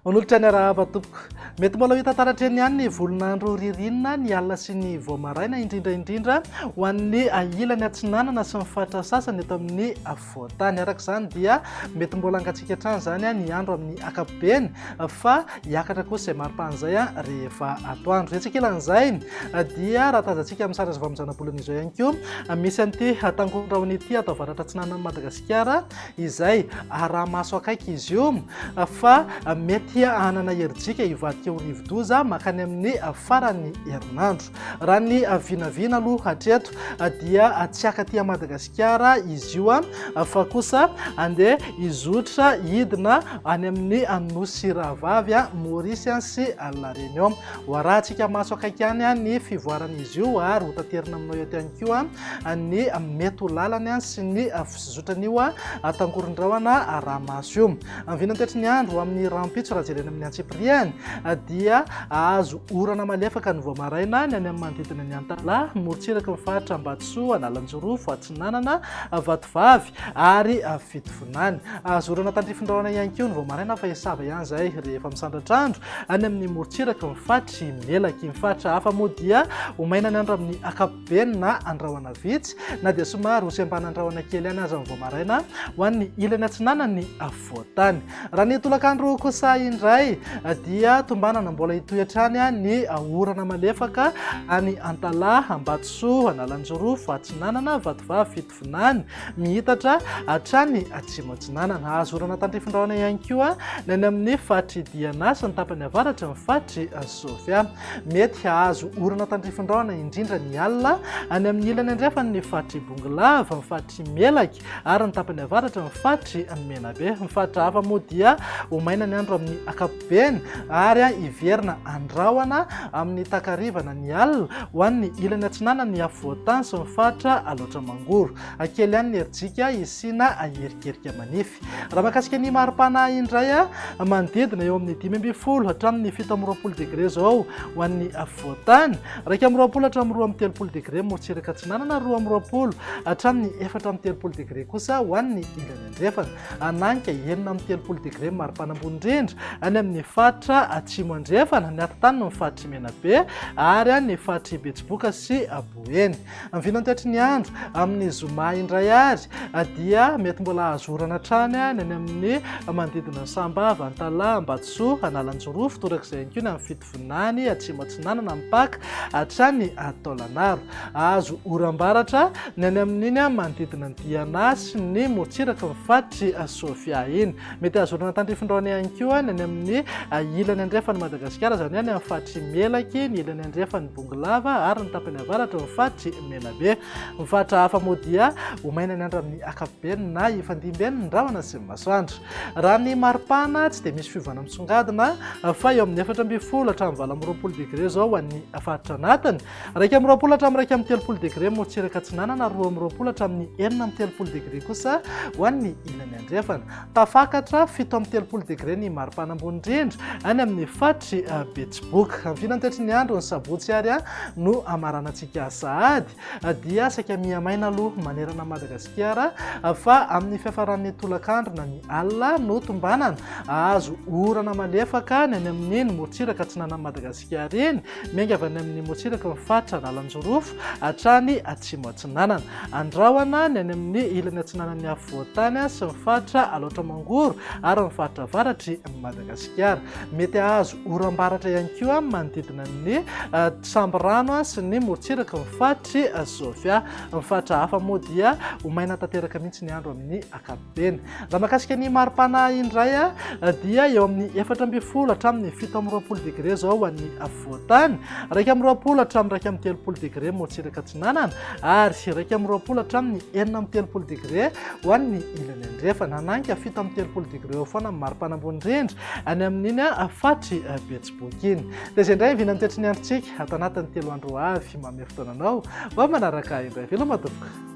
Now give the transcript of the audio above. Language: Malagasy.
Manolotra ny arahaba tompoko. Mety mbola hita taratreny ihany ny volonandro ririnina ny alina sy ny voamaraina indrindra indrindra ho an'ny ilany atsinanana sy ny faritra sasany eto amin'ny voantany. Araka izany dia mety mbola hangatsiaka hatrany izany ny andro amin'ny ankapobeny fa hiakatra kosa izay maripana izay rehefa atoandro. Etsy ankilan'izay dia raha tazantsika amin'ny sary azo avy amin'ny zanabolana izao ihany koa misy an'ity tangondrahona ity ato avaratra atsinanan'i Madagasikara izay araha-maso akaiky izy io fa mety hanana herijika hivadika ho rivodoza makany amin'ny faran'ny herinandro. Raha ny vinavina aloha hatreto dia tsy haka aty Madagasikara izy io fa kosa andeha hizotra hidina any amin'ny nosy rahavavy Maurice sy La Réunion. Ho arahantsika maso akaiky ihany ny fivoaran'izy io ary ho taterina aminao eto ihany koa ny mety ho lalany sy ny fizotran'io tangoron-drahona Rahamaso io. Ny vinan'ny toetry ny andro amin'ny rahampitso raha jerena amin'ny antsipiriany dia azo orana malefaka ny vao maraina ny any amin'ny manodidina ny Antalaha, morontsiraky ny faritra Ambatosoa, Analanjirofo, Atsinanana, Vatovavy ary Fitovinany. Azo orana tandrifindrahona ihany koa ny vao maraina fa hisava ihany izay rehefa misandratra andro any amin'ny morontsiraky ny faritr'i Melaky. Ny faritra hafa moa dia ho maina ny andro amin'ny ankapobeny. be na andrahoana vitsy na dia somary ho sembana andrahoana kely ihany aza ny vao maraina ho an'ny ilany atsinanan'ny afovoan-tany. Raha ny tolakandro kosa indray dia tombanana mbola hitohy hatrany ny orana malefaka any Antalaha, Ambatosoa, Analanjorofo, Atsinanana, Vatovavy, Vinany, miitatra hatrany Atsimo Atsinanana. Azo orana tandrifin-drahona ihany koa ny any amin'ny faritry Diana sy ny tapany avaratry ny faritry Sofia. Mety hahazo orana tandrifin-drahona indrindra ny alina any amin'ny ilany andrefan' ny faritry Bongolava, ny faritry Melaky ary ny tapany avaratry ny faritry Menabe. Ny faritra hafa moa dia ho maina ny andro amin'ny ankapobeny. Beny ary hiverina an-drahona amin'ny takarivana ny alina ho an'ny ilany atsinanan'ny afovoan-tany sy ny faritra Alaotra Mangoro. Hakely ihany ny herijika hisiana hierikerika manify. Raha mahakasika ny mari-pana indray, manodidina eo amin'ny dimy ambin'ny folo hatramin'ny fito amby roapolo degre izao ho an'ny afovoan-tany, iraika amby roapolo hatramin'ny roa amby telopolo degre morotsiraka atsinanana, roa amby roapolo hatramin'ny efatra amby telopolo degre kosa ho an'ny ilany andrefana. Hananitra enina amby telopolo degre maripana ambony indrindra any amin'ny faritra Atsimo Andrefana, ny atintaniny ny faritr'i Menabe ary any ny faritr'i Betsiboka sy Boeny. Amin'ny vinany toetry ny andro, amin'ny zoma indray ary dia mety mbola hahazo orana hatrany ny any amin'ny manodidina ny Sambava, Antalaha, Ambatosoa, Analanjirofo, torak'izay ihany koa ny amin'ny Vonany, Atsimo Atsinanana, mipaka hatrany Taolagnaro. Azo oram-baratra ny any amin'iny manodidina ny Diana sy ny morontsiraky ny faritr'i Sofia iny. Mety azo orana tandrifindraony ihany koa ny any amin'ny ilany andrefan'i Madagasikara, izany hoe any amin'ny faritr'i Melaky, ny ilany andrefan'i Bongolava ary ny tapany avaratry ny faritr'i Menabe. Ny faritra hafa moa dia ho mainan'ny andro amin'ny ankapobeny na hifandimben'ny rahona sy ny masoandro. Raha ny maripana tsy dia misy fiovana misongadina fa eo amin'ny efatra ambin'ny folo hatramin'ny valo amby roapolo degré izao ho an'ny faritra anatiny. Iraika amby roapolo hatramin'ny iraika amby telopolo degré morontsiraka atsinanana ary roa amby roapolo hatramin'ny enina amby telopolo degré kosa ho an'ny ilany andrefana. Tafakatra fito amby telopolo degré ny maripana ambony indrindra any amin'ny faritry Betsiboka. Amin'ny filan'ny toetry ny andro ny sabotsy ary no hamaranantsika sahady. Dia saika miha-maina aloha manerana an'i Madagasikara fa amin'ny fiafaran'ny tolakandro na ny alina no tombanana. Hahazo orana malefaka ny any amin'iny morontsiraka atsinanan'i Madagasikara iny. Miainga avy any amin'ny morontsiraka ny faritra lalan-jorofo hatrany atsimo atsinanana. Andrahona ny any amin'ny ilany atsinanan'ny afovoan-tany sy ny faritra alaotra mangoro ary ny faritra avaratr'i Madagasikara. Mety hahazo Oram-baratra ihany koa manodidina ny Sambirano sy ny morontsiraky ny faritry Sofia. Ny faritra hafa moa dia ho maina tanteraka mihitsy ny andro amin'ny ankapobeny. Raha makasika ny mari-pana indray dia eo amin'ny efatra ambin'ny folo hatramin'ny fito amby roapolo degre izao ho an'ny afovoan-tany, iraika amby roapolo hatramin'ny iraika amby telopolo degre morontsiraka atsinanana ary iraika amby roapolo hatramin'ny enina amby telopolo degre ho an'ny ilany andrefana. Naninka fito amby telopolo degre eo foana amin'ny mari-pana ambony indrindra. any amin'iny afatry betsiboky iny. Dia izay indray vinan'ny toetry ny androntsika ato anatin'ny telo andro ho avy mamehy fotoananao mba manaraka indray veloma tompoko.